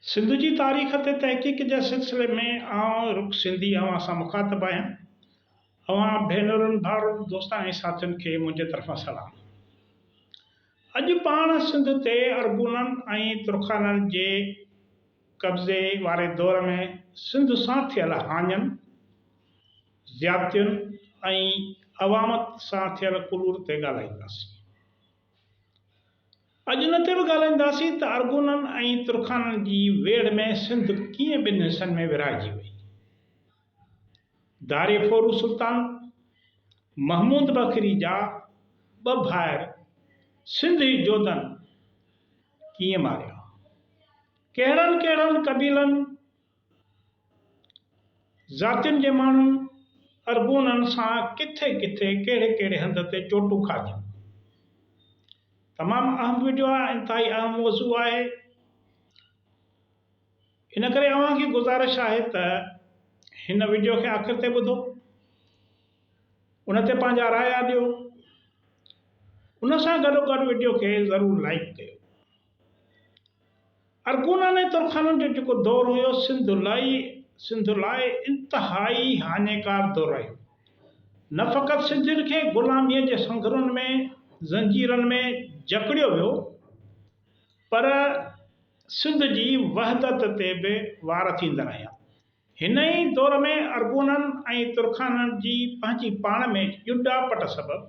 سنڌ جي تاريخ تي تحقيق جي سلسلي ۾ آئون رڪ سنڌي اوهان سان مخاطب آهيان. اوهان ڀينرن، ڀائرن، دوستن ۽ ساٿين کي منهنجي طرفان سلام. اڄ پاڻ سنڌ تي ارغونن ۽ ترخانن جي قبضي واري دور ۾ سنڌ سان ٿيل هاڃن، زيادتين ۽ عوامت سان ٿيل ڪلور تي ڳالهائينداسين. اڄ ان تي به ڳالهائينداسين ته ارغونن ۽ ترخانن جي ويڙهه ۾ سنڌ ڪيئن ٻن حصن ۾ ورهائجي وئي. داري ڦورو سلطان محمود بکري جا ٻه ڀائر سنڌي جوڌن ڪيئن ماريا. ڪهڙن ڪهڙن قبيلن ذاتين جي ماڻهن ارغونن سان ڪٿي ڪٿي ڪهڙي ڪهڙي هنڌ تي چوٽون کاڌيون. تمام اهم ويڊيو آهي انتهائي اهم موضوع آهي ان ڪري اوهان کي گذارش آهي ته هن ويڊيو کي آخر تي ٻڌو ان تي پنهنجا رايا ڏيو ان سان گڏو گڏ ويڊيو کي ضرور لائيڪ ڪيو. ارغونن ۽ ترخانن جو جيڪو دور هيو، سنڌ لاء سنڌ لاء انتهائي هاڃيڪار دور رهيو. نه فقط سنڌين کي غلاميء جي سنگهرن ۾، زنجيرن ۾، جڪڙيو ويو، پر سنڌ جي وحدت تي به وار ٿيندڙ هيا. هن ئي دور ۾ ارغونن ۽ ترخانن جي پنهنجي پاڻ ۾ ڄوڏاپٽ سبب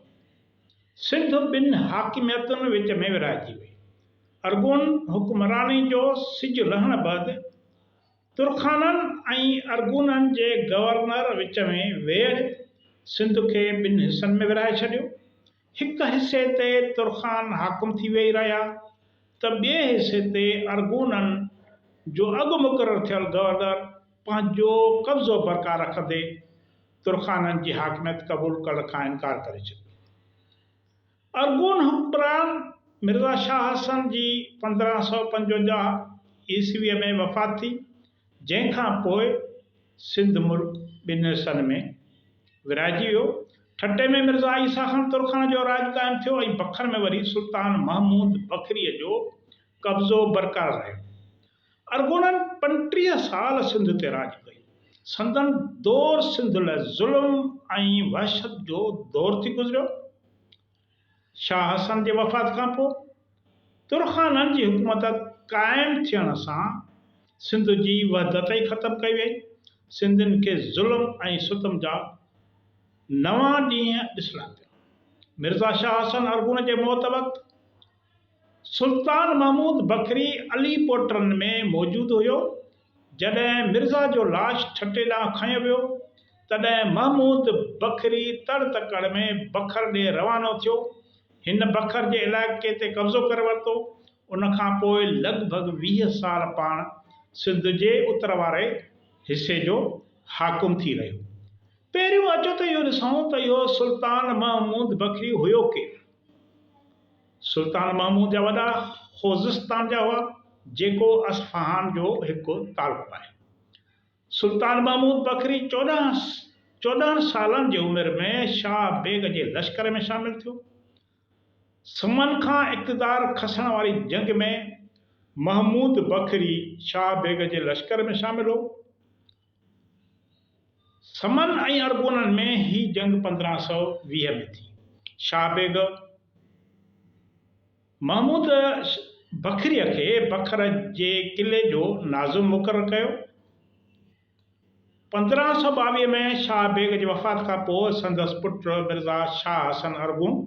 سنڌ ٻن حاڪميتن وچ ۾ ورهائجي وئي. ارغون حڪمراني جو سج لهڻ بعد ترخانن ۽ ارغونن جي گورنر وچ ۾ ويڙهه سنڌ کي ٻن حصن ۾ ورهائي ڇڏيو هڪ حصي تي ترخان حاڪم ٿي ويهي رهيا ته ٻئي حصي تي ارغونن جو اڳ مقرر ٿيل گورنر پنهنجو قبضو برقار رکندي ترخانن جي حاڪميت قبول ڪرڻ کان انڪار ڪري ڇڏيو. ارغون حڪمران مرزا شاهه حسن جي پندرهن سؤ پنجونجاهه عيسويء ۾ وفات ٿي. جنهن کان پوء سنڌ ملڪ ٻن حصن ۾ ورهائجي ويو. ٺٽي ۾ مرزا عيسيٰ خان ترخان جو راڄ قائم ٿيو ۽ بکر ۾ وري سلطان محمود بکريء جو قبضو برقرار رهيو. ارغونن پنٽيهه سال سنڌ تي راڄ ڪيو. سندن دور سنڌ لاء ظلم ۽ وحشت جو دور ٿي گذريو. شاهه حسن جي وفات کان پوء ترخانن جي حڪومت قائم ٿيڻ سان سنڌ جي وحدت ئي ختم ڪئي وئي. سنڌين کي ظلم ۽ ستم جا نوان ڏينهن ڏسڻا پيا. مرزا شاهه حسن ارغون جي موت وقت سلطان محمود بکري علي پوٽرن ۾ موجود هيو. جڏهن مرزا جو لاش ٺٽي ڏانهن کنيو ويو، تڏهن محمود بکري تڙ تڪڙ ۾ بکر ڏي روانو ٿيو. هن بکر جي علائقي تي قبضو ڪري ورتو. ان کان پوء لڳ ڀڳ ويهه سال پاڻ سنڌ جي اتر واري حصي جو حاڪم ٿي رهيو. پهريون اچو ته اهو ڏسون ته اهو سلطان محمود بکري هيو ڪير؟ سلطان محمود جا وڏا خوزستان جا هئا، جيڪو اصفهان جو هڪ تعلقو آهي. سلطان محمود بکري چوڏهن چوڏهن سالن جي عمر ۾ شاهه بيگ جي لشڪر ۾ شامل ٿيو. سمن کان اقتدار کسڻ واري جنگ ۾ محمود بکري شاهه بيگ جي لشڪر ۾ شامل هو. سمن ۽ ارغونن ۾ هي جنگ پندرهن سؤ ويهه ۾ ٿي. شاهه بيگ محمود بکريء کي بکر جي قلعي جو ناظم مقرر ڪيو. پندرهن سؤ ٻاويهه ۾ شاهه بيگ جي وفات کان پوء سندس پٽ مرزا شاهه حسن ارغون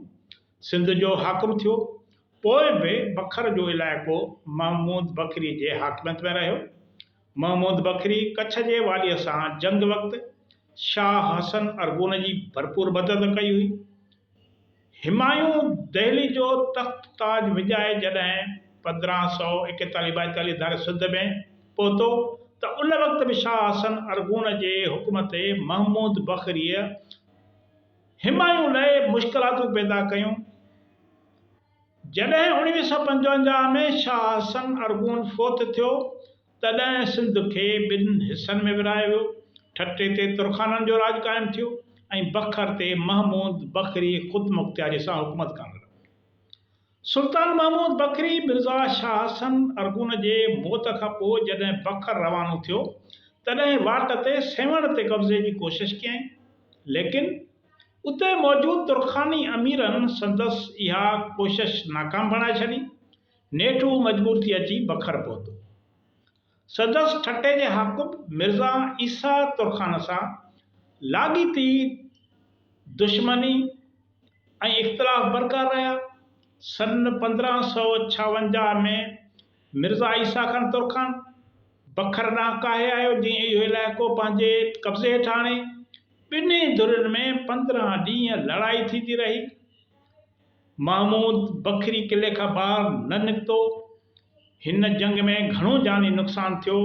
سنڌ جو حاڪم ٿيو. پوء به بکر جو علائقو محمود بکري جي حاڪميت ۾ رهيو. محمود بکري ڪڇ جي واليء سان جنگ وقت شاهه حسن ارغون جي ڀرپور مدد ڪئي هئي. همايون دهلي جو تخت تاج وڃائي جڏهن پندرهن سؤ ايڪيتاليهه ٻائيتاليهه ڌاري سنڌ ۾ پهتو ته ان وقت به شاهه حسن ارغون جي حڪم تي محمود بکريء همايون لاء مشڪلاتون پيدا ڪيون ۽ جڏهن اڻويهه سؤ پنجونجاهه ۾ شاهه حسن ارغون فوت ٿيو، تڏهن سنڌ کي ٻن حصن ۾ ورهايو ويو. ٺٽي تي ترخانن جو راڄ قائم ٿيو ۽ بکر تي محمود بکري خودمختياري سان حڪومت ڪرڻ لڳو. سلطان محمود بکري مرزا شاهه حسن ارغون جي موت کان پوء جڏهن بکر روانو ٿيو، تڏهن واٽ تي سيوهڻ تي قبضي جي ڪوشش ڪيائين، ليڪن، اتي موجود ترخاني اميرن سندس اها ڪوشش ناڪام بڻائي ڇڏي. نيٺ هو مجبور ٿي اچي بکر پهتو. سندس ٺٽي جي حاڪم مرزا عيسيٰ ترخان سان لاڳيتي دشمني ۽ اختلاف برقرار رهيا. سن پندرهن سؤ ڇاونجاهه ۾ مرزا عيسيٰ خان ترخان بکر ڏانهن ڪاهي آيو، جنهن اهو علائقو پنهنجي قبضي هيٺ آڻي، ٻنهي ڌرين ۾ پندرهن ڏينهن لڙائي ٿيندي رهي. محمود بکري قلعي کان ٻاهر نه نڪتو. هن جنگ ۾ گهڻو جاني نقصان ٿيو.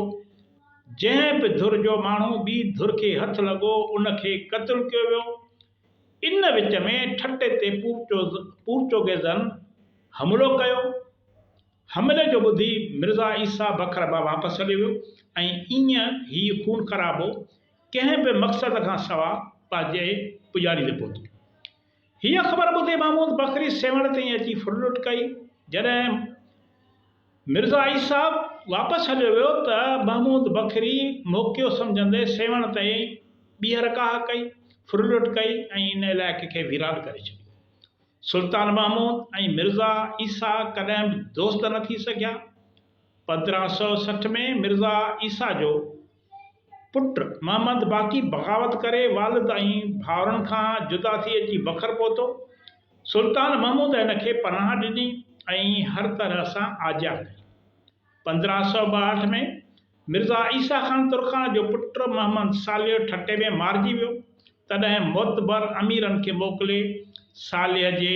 جنهن به ڌر جو ماڻهو ٻي ڌر کي هٿ لڳو ان کي قتل ڪيو ويو. ان وچ ۾ ٺٽي تي پورچوگيزن حملو ڪيو. حملي جو ٻڌي مرزا عيسيٰ بکر به واپس هليو ويو ۽ ائين هي خون خرابو ڪنهن به مقصد کان سوا پنهنجي پڄاڻي تي پهتو. هيء خبر ٻڌي محمود بکري سيوهڻ تائين اچي ڦر لٽ ڪئي. جڏهن مرزا عيسيٰ صاحب واپس هليو ويو ته محمود بکري موقعو سمجهندي سيوهڻ تائين ٻيهر ڪاهه ڪئي، ڦر لٽ ڪئي ۽ ان علائقي کي ويران ڪري ڇڏيو. سلطان محمود ۽ مرزا عيسيٰ ڪڏهن به دوست نه ٿي سگهيا. پندرهن سؤ سٺ ۾ مرزا عيسيٰ جو. پٽ محمد باقي بغاوت ڪري والد ۽ ڀائرن کان جدا ٿي اچي بکر پهتو. سلطان محمود هن کي پناهه ڏني ۽ هر طرح سان آجيا ڪئي. پندرهن سؤ ٻاهٺ ۾ مرزا عيسيٰ خان ترخان جو پٽ محمد صالح ٺٽي ۾ مارجي ويو. تڏهن معتبر اميرن کي موڪلي صالح جي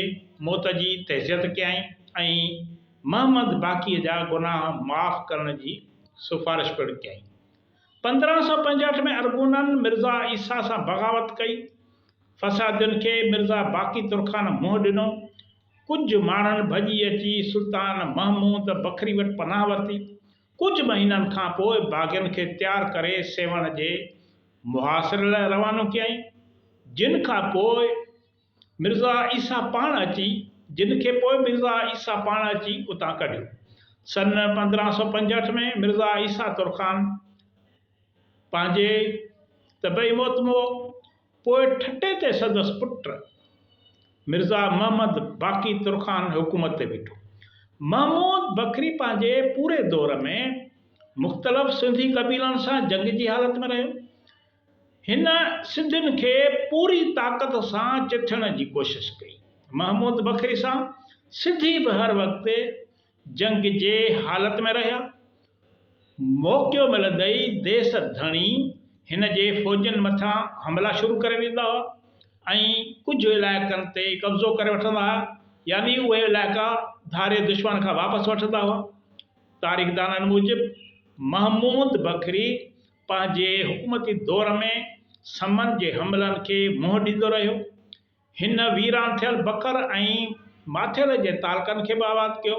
موت جي تعزيت ڪيائين ۽ محمد باقيء جا گناهه معاف ڪرڻ جي سفارش پڻ ڪيائين. پندرهن سؤ پنجهٺ ۾ ارغونن مرزا عيسيٰ سان بغاوت ڪئي. فسادين کي مرزا باقي ترخان منهن ڏنو. ڪجهه ماڻهن ڀڄي اچي سلطان محمود بکري وٽ پناهه ورتي. ڪجهه مهينن کان پوء باغين کي تيار ڪري سيوهڻ جي محاصري لاء روانو ڪيائين، جن کان پوء مرزا عيسيٰ پاڻ اچي جن کي پوء مرزا عيسيٰ پاڻ اچي اتان ڪڍيو. سن پندرهن سؤ پنجهٺ ۾ مرزا عيسيٰ ترخان پنهنجي طبعي موت مئو. پوء ٺٽي تي سندس پٽ مرزا محمد باقي ترخان حڪومت تي بيٺو. محمود بکري پنهنجي پوري دور ۾ مختلف سنڌي قبيلن سان جنگ جي حالت ۾ رهيو. هن سنڌين کي پوري طاقت سان چٿڻ جي ڪوشش ڪئي. محمود بکري سان سنڌي به هر وقت جنگ جي حالت ۾ رهيا. موقعو ملندئي ديس ڌڻي هن جي فوجين مٿان حملا شروع ڪري ڏيندا هئا ۽ ڪجهه علائقن تي قبضو ڪري وٺندا هئا يعني اهي علائقا ڌاري دشمن کان واپس وٺندا هئا. تاريخدانن موجب محمود بکري پنهنجي حڪومتي دور ۾ سمن جي حملن کي منهن ڏيندو رهيو. هن ويران ٿيل بکر ۽ ماٿيري جي تعلقن کي به آباد ڪيو.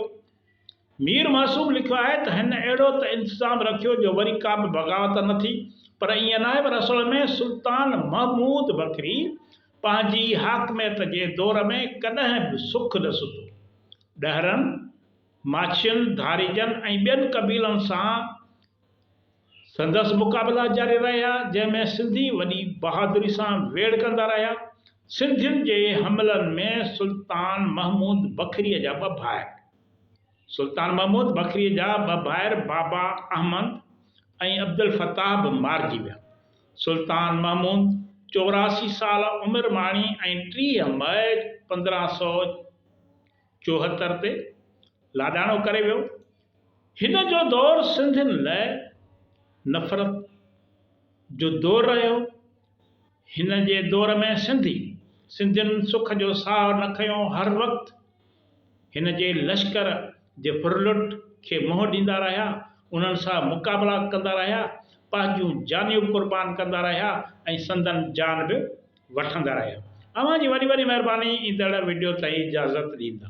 مير معصوم لکيو آهي ته هن اهڙو ته انتظام رکيو جو وري ڪا به بغاوت نه ٿي، پر ائين ناهي پر اصل ۾ سلطان محمود بکري پنهنجي حاڪميت جي دور ۾ ڪڏهن به سک نه ستو. ڏهرن، ماڇين، ڌاريجن ۽ ٻين قبيلن سان سندس مقابلا جاري رهيا، جنهن ۾ سنڌي وڏي بهادري سان ويڙهه ڪندا رهيا. سنڌين جي حملن ۾ سلطان محمود بکريء جا ٻه ڀائر، سلطان محمود بکريء جا ٻه ڀائر بابا احمد ۽ عبدالفتاح به مارجي ويا. سلطان محمود چوراسي سال عمر ماڻي ۽ ٽيهه مئي پندرهن سؤ چوهتر تي لاڏاڻو ڪري ويو. هن جو دور سنڌين لئه نفرت جو دور رهيو. هن جي دور ۾ سنڌي سنڌين سک جو ساهه نه کنيو هر وقت هن جي لشڪر جي ڦرلٽ کي منهن ڏيندا رهيا انهن سان مقابلا ڪندا رهيا پنهنجون جانيون قربان ڪندا رهيا ۽ سندن جان به وٺندا رهيا اوهان جي وڏي وڏي مهرباني ايندڙ وڊيو تائين اجازت ڏيندا.